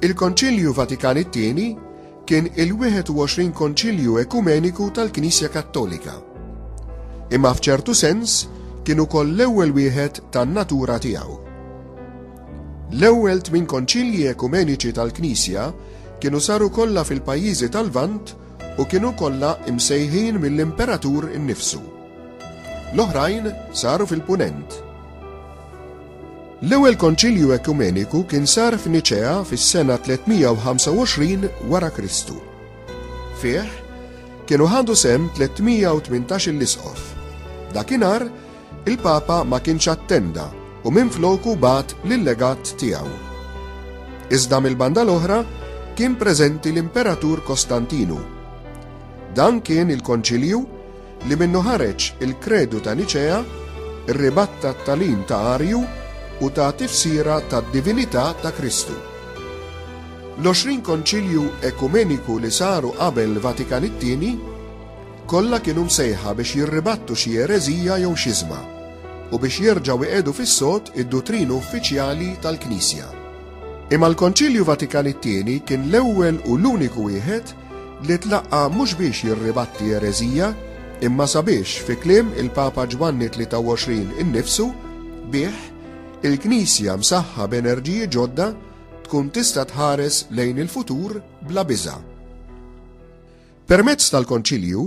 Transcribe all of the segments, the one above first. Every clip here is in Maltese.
Il-Konċilju Vatikan it-Tieni kien il-21 Konċilju Ekumeniku tal-Knisja Kattolika. Imma f'ċertu sens kien ukoll l-ewwel wieħed tan-natura tiegħu. L-ewwel tmien konċilji ekumeniċi tal-Knisja kienu saru kollha fil-pajjiżi tal-Vant u kienu kollha imsejħin mill-Imperatur innifsu. L-oħrajn saru fil-Punent. L-ewwel Konċilju Ekumeniku kien sar f'Niċea fis-sena 325 wara Kristu. Fih kienu ħadu sem 318 l-isqof. Dakinhar il-Papa ma kienx attenda u minn floku bat l-legat tiegħu. Iżda mill-banda l-oħra kien preżenti l-Imperatur Kostantinu. Dan kien il-konċilju li minnu ħareġ il-Kredu ta' Niċea, rribatta t-tagħlim ta' Arju u ta tifsira tad-divinità ta' Kristu. L-20 Konċilju Ekumeniku li saru qabel Vatikan it-Tieni kollha kienu msejħa biex jirribattu xi ereżija jew xiżma u biex jerġgħu iqiegħdu fis-sod id-dutrinu uffiċjali tal-Knisja. Imma l-Konċilju Vatikan it-Tieni kien l-ewwel u l-uniku wieħed li tlaqqa' mhux biex jirribatti ereżija, imma sabiex, fi kliem il-Papa Ġwanni 23 innifsu, bih, il-Knisja msaħħa b'enerġiji ġodda tkun tista' tħares lejn il-futur bla biża'. Permezz tal-Konċilju,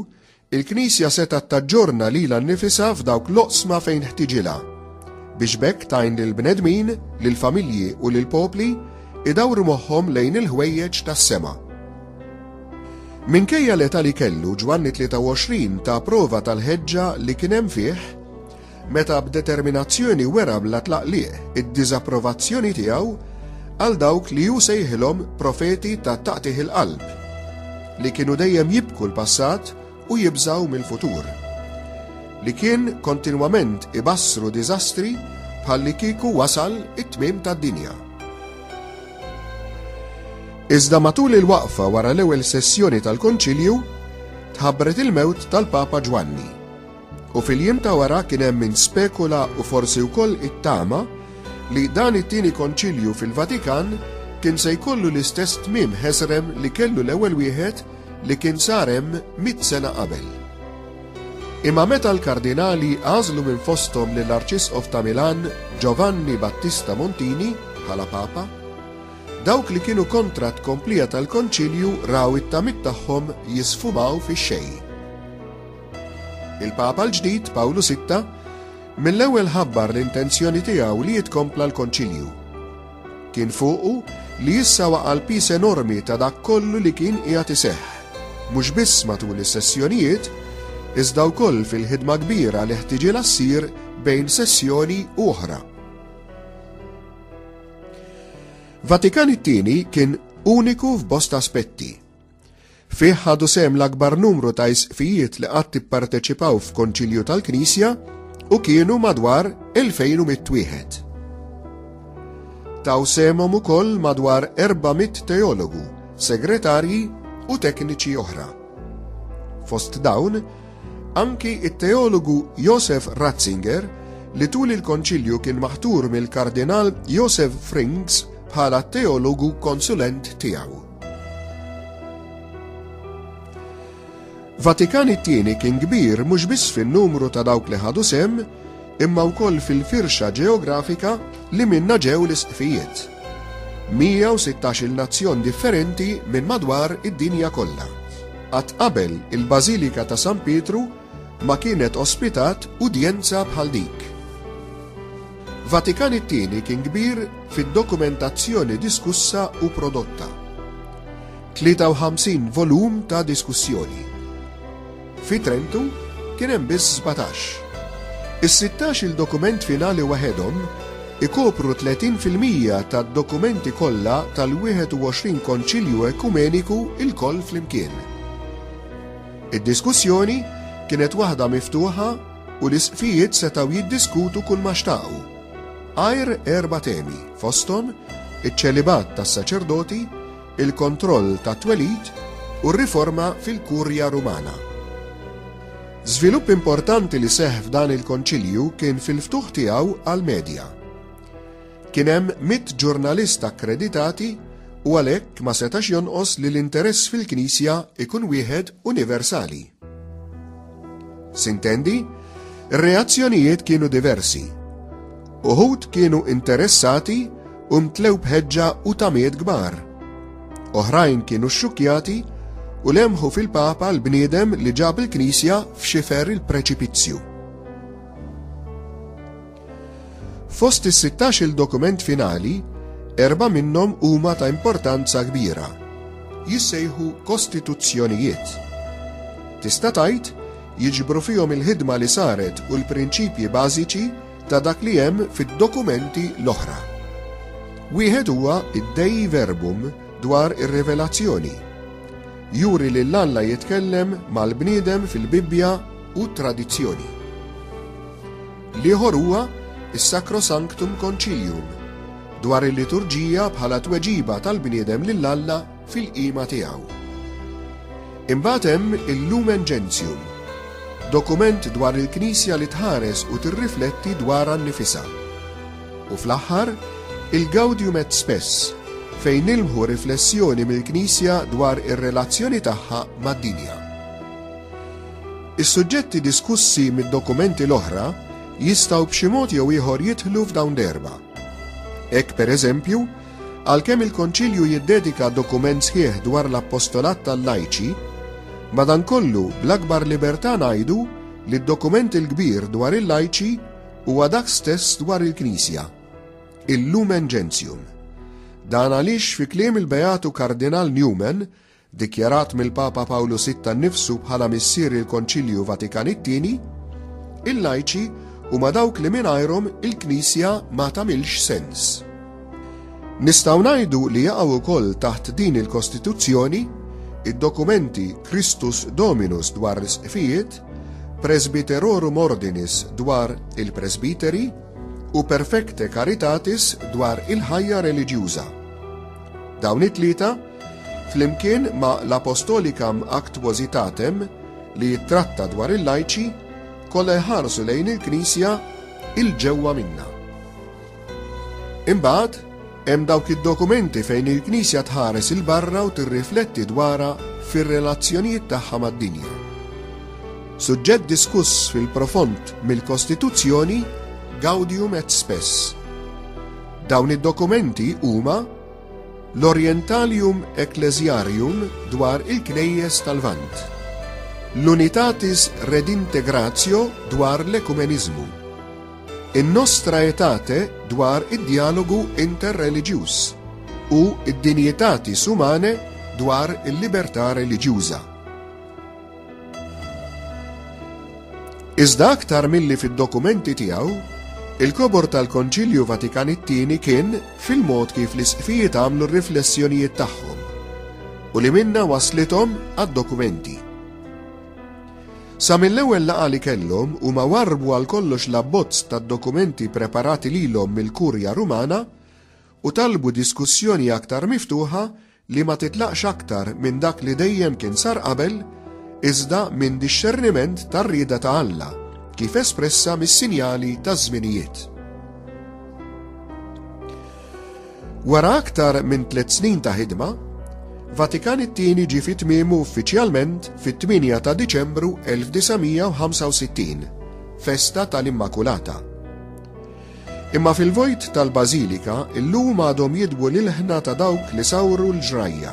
Il-Knisja setgħet taġġorna lilha nnifisha f'dawk l-oqsma fejn ħtiġilha, biex b'hekk tgħin lill-bnedmin, lill-familji u lill-popli jdawru moħħhom lejn il-ħwejjeġ tas-sema. Minkejja l-età li kellu, Ġwanni 23 ta prova tal-ħeġġa li kien hemm fih, meta b'determinazzjoni wera bla tlaqliq id-diżapprovazzjoni tiegħu għal dawk li hu sejħilhom profeti ta' taqtigħ il-qalb, li kienu dejjem jibku l-passat u jibżgħu mill-futur, li kien kontinwament ibassru diżastri bħallikieku wasal it-tmiem tad-dinja. Iżda matul il-waqfa wara l-ewwel sessjoni tal-Konċilju, tħabbret il-mewt tal-Papa Ġwanni. U fil-jiem ta' wara kien hemm min spekula u forsi wkoll ittama li dan it-tieni Konċilju fil-Vatikan kien se jkollu l-istess tmiem ħesrem li kellu l-ewwel wieħed li kien sar hemm mitt sena qabel. Imma meta l-Kardinali għażlu minn fosthom lill-Arċisqof ta' Milan Giovanni Battista Montini bħala Papa, dawk li kienu kontra t-tkomplija tal-Konċilju raw it-tamiet tagħhom jisfumaw fix-xejn. Il-Papa l-ġdid, Pawlu Sitta, mill-ewwel ħabbar l-intenzjoni tiegħu li jitkompla l-Konċilju. Kien fuqu li issa waqa' l-pis enormi ta' dak kollu li kien qiegħed iseħħ, mhux biss matul is-sessjonijiet, iżda wkoll fil-ħidma kbira li ħtiġilha ssir bejn sessjoni u oħra. Vatikan it-tieni kien uniku f'bosta aspetti, Fih ħadu sem l-akbar numru ta' isqfijiet li qatt ipparteċipaw f'konċilju tal-Knisja u kienu madwar 2000 wieħed. Taw semhom ukoll madwar 400 teologu, segretarji u tekniċi oħra. Fost dawn, anki it-teologu Josef Ratzinger li tul il-konċilju kien maħtur mill-kardinal Josef Frings bħala teologu konsulent tiegħu. Vatikan it-Tieni kien kbir mhux biss fin-numru ta' dawk li ħadu sehem, imma wkoll fil-firxa ġeografika li minnha ġew l-isqfijiet. 116-il nazzjon differenti minn madwar id-dinja kollha. Qatt qabel il-Bażilika ta' San Pietru ma kienet ospitat udjenza bħal dik. Vatikan it-Tieni kien kbir fid-dokumentazzjoni diskussa u prodotta. 53 volum ta' diskussjoni. Fi Trentu kien hemm biss 17. Is-16 il-dokument finali waħedhom ikopru 30 fil-mija tad-dokumenti kollha tal-21 Konċilju Ekumeniku ilkoll flimkien. Id-diskussjoni kienet waħda miftuħa u l-Isqfijiet setgħu jiddiskutu kulma xtaqu, għajr erba' temi, fosthom iċ-ċelibat tas-saċerdoti, il-kontroll tat-twelid u r-riforma fil-Kurja Rumana. Żvilupp importanti li seħħ f'dan il-Konċilju kien fil-ftuħ tiegħu għall-medja. Kien hemm mitt ġurnalist akkreditati u għalhekk ma setax jonqos li l-interess fil-Knisja ikun wieħed universali. Sintendi, ir-reazzjonijiet kienu diversi. Uħud kienu interessati u mtlew bħeġġa u tamiet kbar. Oħrajn kienu xxukjati u lemħu fil-Papa l-bniedem li ġab il-Knisja f'xifer il-preċipizzju. Fost is-sittax-il dokument finali, erba' minnhom huma ta' importanza kbira. Jissejħu kostituzzjonijiet. Tista' tgħid, jiġbru fihom il-ħidma li saret u l-prinċipji bażiċi ta' dak li hemm fid-dokumenti l-oħra. Wieħed huwa d-Dei Verbum dwar ir-Rivelazzjoni. Juri lil Alla jitkellem mal-bniedem fil-Bibbja u t-tradizzjoni. L-ieħor huwa s-Sacrosanctum Concilium, dwar il-liturġija bħala tweġiba tal-bniedem lil Alla fil-qima tiegħu. Imbagħad hemm il-Lumen Gentium, dokument dwar il-Knisja li tħares u tirrifletti dwarha nnifisha. U fl-aħħar, il-Gaudium et Spes, fejn nilmħu riflessjoni mill-Knisja dwar ir-relazzjoni tagħha mad-dinja. Is-suġġetti diskussi mid-dokumenti l-oħra jistgħu b'xi mod jew ieħor jidħlu f'dawn l-erba'. Hekk, pereżempju, għalkemm il-Konċilju jiddedika dokument sħiħ dwar l-appostolat tal-lajċi, madankollu bl-akbar libertà ngħidu li d-dokument il-kbir dwar il-lajċi huwa dak stess dwar il-Knisja, il-Lumen Gentium. Dan għaliex fi kliem il-Beatu Kardinal Newman, dikjarat mill-Papa Pawlu Sitta nnifsu bħala missier il-Konċilju Vatikan it-Tieni, il-lajċi huma dawk li mingħajrhom il-Knisja ma tagħmilx sens. Nistgħu ngħidu li jaqgħu wkoll taħt din il-Kostituzzjoni id-dokumenti Christus Dominus dwar l-isqfijiet, Presbyterorum Ordinis dwar il-presbiteri u Perfecte Caritatis dwar il-ħajja reliġjuża. Dawn it-tlieta Flimkien ma' l-Apostolicam Actuositatem, li jittratta dwar il-lajċi, kollha jħarsu lejn il-Knisja 'il ġewwa minnha. Imbagħad, hemm dawk id-dokumenti fejn il-Knisja tħares 'il barra u tirrifletti dwarha fir-relazzjonijiet tagħha mad-dinja. Suġġett diskuss fil-profond mill-Kostituzzjoni Gaudium et Spes. Dawn id-dokumenti huma, L-Orientalium Ecclesiarium dwar il-Knejjes tal-Lvant. L-Unitatis Redintegratio dwar l-ekumeniżmu. In-Nostra Aetate dwar id-djalogu interreliġjuż u d-Dignitatis Humanae dwar il-libertà reliġjuża. Iżda aktar milli fid-dokumenti tiegħu, il-kobor tal-Konċilju Vatikan it-Tieni kien fil-mod kif l-isqfijiet għamlu r-riflessjonijiet tagħhom u li minna waslithom għad-dokumenti. Sa mill-ewwel laqgħa li kellhom huma warbu għal kollox l-abbozz tad-dokumenti preparati lilhom mill-Kurja Rumana u talbu diskussjoni aktar miftuħa li ma titlaqx aktar minn dak li dejjem kien sar qabel, iżda minn dixxerniment tar-rieda ta' Alla, kif espressa mis-sinjali taż-żminijiet. Wara aktar minn tliet snin ta' ħidma, Vatikan it-Tieni ġie fi tmiemu uffiċjalment fit-8 ta' Diċembru 1965, festa tal-Immakulata. Imma fil-vojt tal-Bażilika illum għadhom jidwu l-ilħna ta' dawk li sawru l-ġrajja.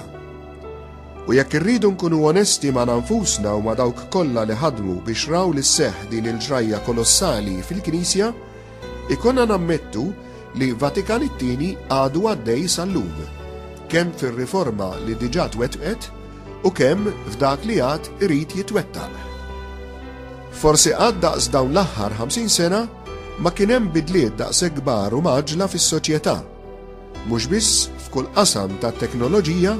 U jekk irridu nkunu onesti magħna nfusna u ma' dawk kollha li ħadmu biex raw li sseħħ din il-ġrajja kolossali fil-Knisja, ikollna nammettu li Vatikan it-Tieni għadu għaddej sal-lum, kemm fir-riforma li diġà twettqet u kemm f'dak li għad irid jitwettaq. Forsi qatt daqs dawn l-aħħar 50 sena ma kien hemm bidliet daqshekk kbar u mgħaġġla fis-soċjetà, mhux biss f'kull qasam tat-teknoloġija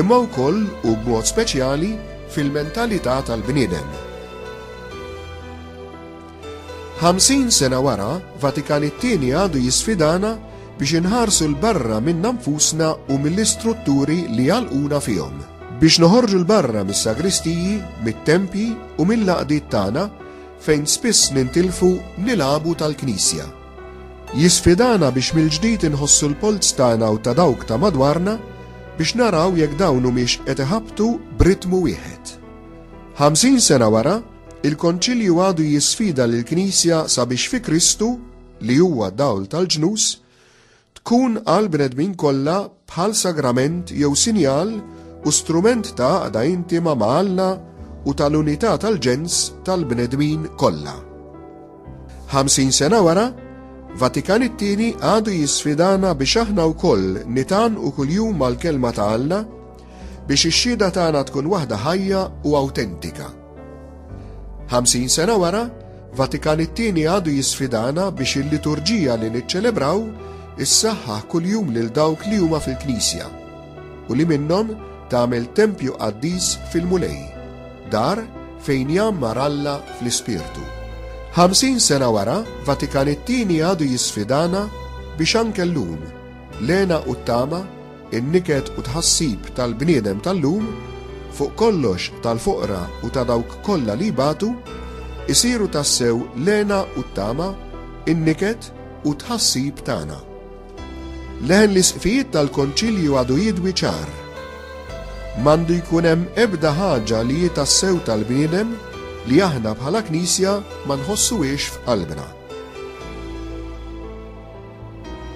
imma wkoll u b'mod speċjali fil-mentalità tal-bniedem. 50 sena wara, Vatikan it-Tieni għadu jisfidana Biex inħarsu 'l barra minna nfusna u mill-istrutturi li jagħlquna fihom. Biex noħorġu 'l barra mis-sagristiji, mit-tempji u mill-għaqdiet tagħna, fejn spiss nintilfu nilgħabu tal-Knisja. Jisfidana biex mill-ġdid inħossu l-polz tagħna u ta' dawk ta' madwarna biex naraw jekk dawn humiex qed iħabbtu b'ritmu wieħed. Ħamsin sena wara, il-Konċilju għadu jisfida lill-Knisja sabiex fi Kristu, li huwa dawl tal-ġnus, tkun għal bnedmin kollha bħal sagrament jew sinjal u strument ta' għaqda intima ma' Alla u tal-unità tal-ġens tal-bnedmin kollha. 50 sena wara, Vatikan it-tieni għadu jisfidana biex aħna wkoll nitan u kuljum mal-kelma ta' Alla biex ix-xhieda tagħna tkun waħda ħajja u awtentika. 50 sena wara, Vatikan it-tieni għadu jisfidana biex il-liturġija li niċċelebraw issaħħaħ kuljum lil dawk li huma fil-Knisja u li minnhom tagħmel tempju qaddis fil-Mulej, dar fejn jammar Alla fl-Ispirtu. 50 sena wara, Vatikan it-tieni għadu jisfidana biex anke llum, lena u t-tama in-niket u tħassib tal-bniedem tal-lum, fuq kollox tal-foqra u ta' dawk kollha li jbatu, isiru tassew l-hena u t-tama, in-niket u t-tħassib tagħna. Leħen l-isqfijiet tal-Konċilju għadu jidwi ċar. M'għandu jkun hemm ebda ħaġa li hi tassew tal-bniedem li aħna bħala Knisja ma nħossuhiex f'qalbna.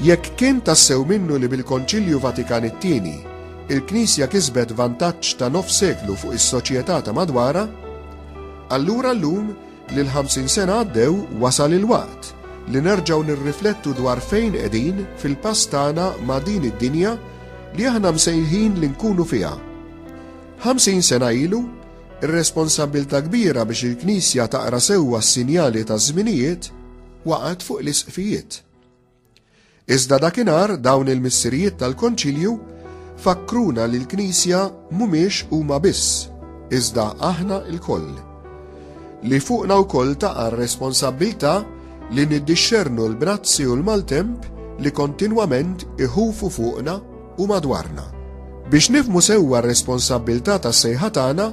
Jekk kien tassew minnu li bil-Konċilju Vatikan it-Tieni, il-Knisja kisbet vantaġġ ta' nofs seklu fuq is-soċjetà ta' madwarha, allura llum li l-ħamsin sena għaddew wasal il-waqt li nerġgħu nirriflettu dwar fejn qegħdin fil-pass tagħna ma' din id-dinja li aħna msejħin li nkunu fiha. Ħamsin sena ilu, Ir-responsabbiltà kbira biex il-Knisja taqra sewwa s-sinjali taż-żminijiet waqgħet fuq l-Isqfijiet. Iżda dakinhar dawn il-Missirijiet tal-Konċilju fakkruna li l-Knisja mhumiex huma biss, iżda aħna lkoll. Li fuqna wkoll taqa' r-responsabbiltà li niddixxernu l-brazzi u l-maltemp li kontinwament iħufu fuqna u madwarna. Biex nifhmu sewwa r-responsabbiltà tas-sejħa tagħna,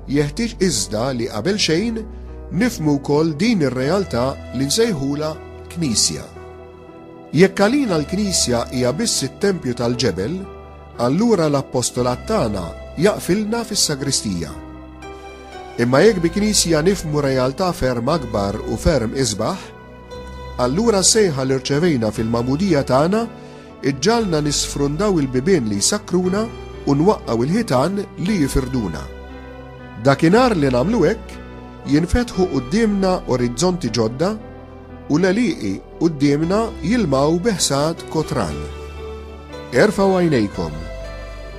jeħtieġ iżda li qabel xejn nifhmu wkoll din ir-realtà li nsejħulha Knisja. Jekk għalina l-Knisja hija biss it-tempju tal-ġebel, allura l-appostolat tagħna jaqfilna fis-sagristija. Imma jekk bi Knisja nifhmu realtà ferm akbar u ferm isbaħ, allura s-sejħa li rċevejna fil-magħmudija tagħna Iġġagħalna nisfrundaw il-bibien li jsakkruna u nwaqqgħu l-ħitan li jifirduna. Dakinhar li nagħmlu hekk, jinfetħu quddiemna orizzonti ġodda u l-għelieqi quddiemna jilmgħu bi ħsad kotran. Erfgħu għajnejkom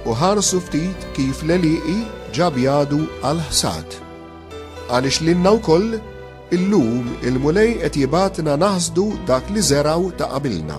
u ħarsu ftit kif l-għelieqi ġa bjadu għall-ħsad. Għaliex lilna wkoll, illum il-Mulej qed jibgħatna naħsdu dak li żergħu ta' qabilna.